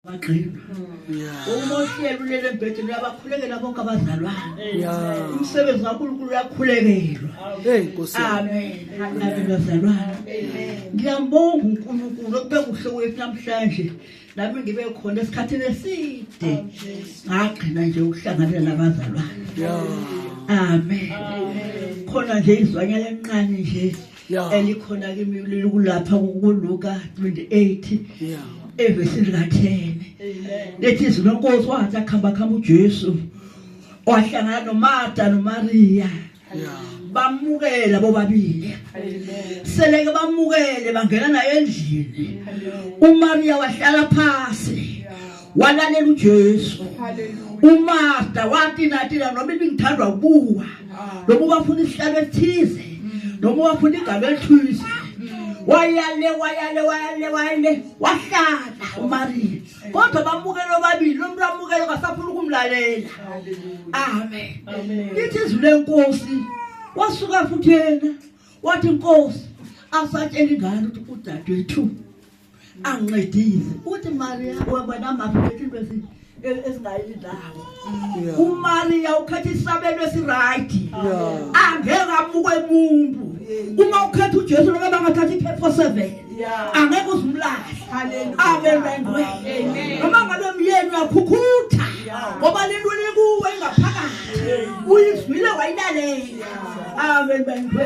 bagqiba uma uhlelo ulele embhedeni uyabakhulekela bonke abazalwane umsebenzi kankulunkulu uyakhulekelwa amen amen bazalwane ngiyambonga unkulunkulu okube kuhle wethu namhlanje nami ngibe khona esikhathini eside ngagcina nje ukuhlanganela nabazalwane amen khona nje izwanyana encane nje Yeah. elikhona kimi likulapha kuluka 28 Yeah. evesini lika-10 lethi izwi lenkosi wathi akuhamba kuhamba ujesu wahlangana nomarta nomariya Yeah. bamukela bobabili seleke bamukele bangena naye endlini umariya wahlala phasi walalela uJesu umaster wathi nathi la noma ibingithandwa ukuwa noma ubafuna isihlalo esithize noma ubafuna igama elithize wayale wayale wayale wayale wahlala uMaria kodwa bamukele obabili lo muntu amukele kasafuna ukumlalela amen lithi izwi lenkosi wasuka futhi yena wathi inkosi asatshela ingane ukuthi udadewethu angincedise uthi maria wabona maphi bethu into ezingayi ndawo umariya ukhetha isabelo esirayidi angeke amuke muntu uma ukhetha ujesu loke bangathatha iphepho seven angeke uzimlahle abelengwe noma ngabe myeni uyakhukhutha ngoba lento likuwe ingaphakathi uyizwile wayilalela abelengwe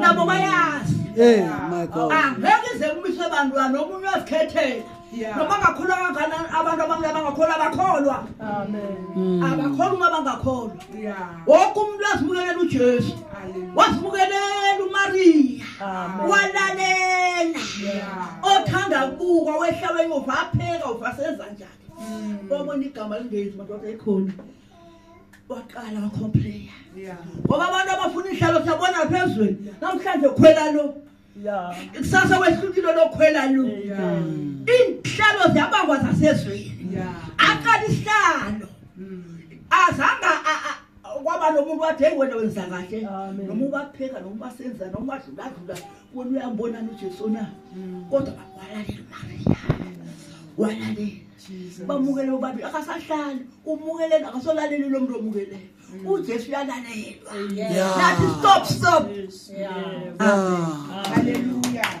nabo bayazi hey my god angeke ize kumiswe abantwana omunye wazikhethela noma ngakholwa kangakanani abantu abamnyama bangakholwa abakholwa hmm. abakholwa uma bangakholwa woke umuntu wazibukelela ujesu wazibukelela umariya walalela othanda kubukwa wehlala enyova apheka uvaseza njani wabona hmm. igama lingezi madoda ekhona waqala wakhomplaya ngoba abantu abafuna ihlalo siyabona phezulu namhlanje khwela lo kusasa wehlukile lokhwela lo inhlalo ziyabangwa zasezweni aqala isihlalo azanga kwaba nomuntu wathi hey wena wenza kahle noma ubapheka noma ubasenza noma ubadluladlula wena uyambonana ujesu na kodwa walalela umariya walalela bamukele bobabili akasahlali umukeleni akasolaleli lo mntu omukeleyo mm. ujesu uyalalelwa nathi stop stop haleluya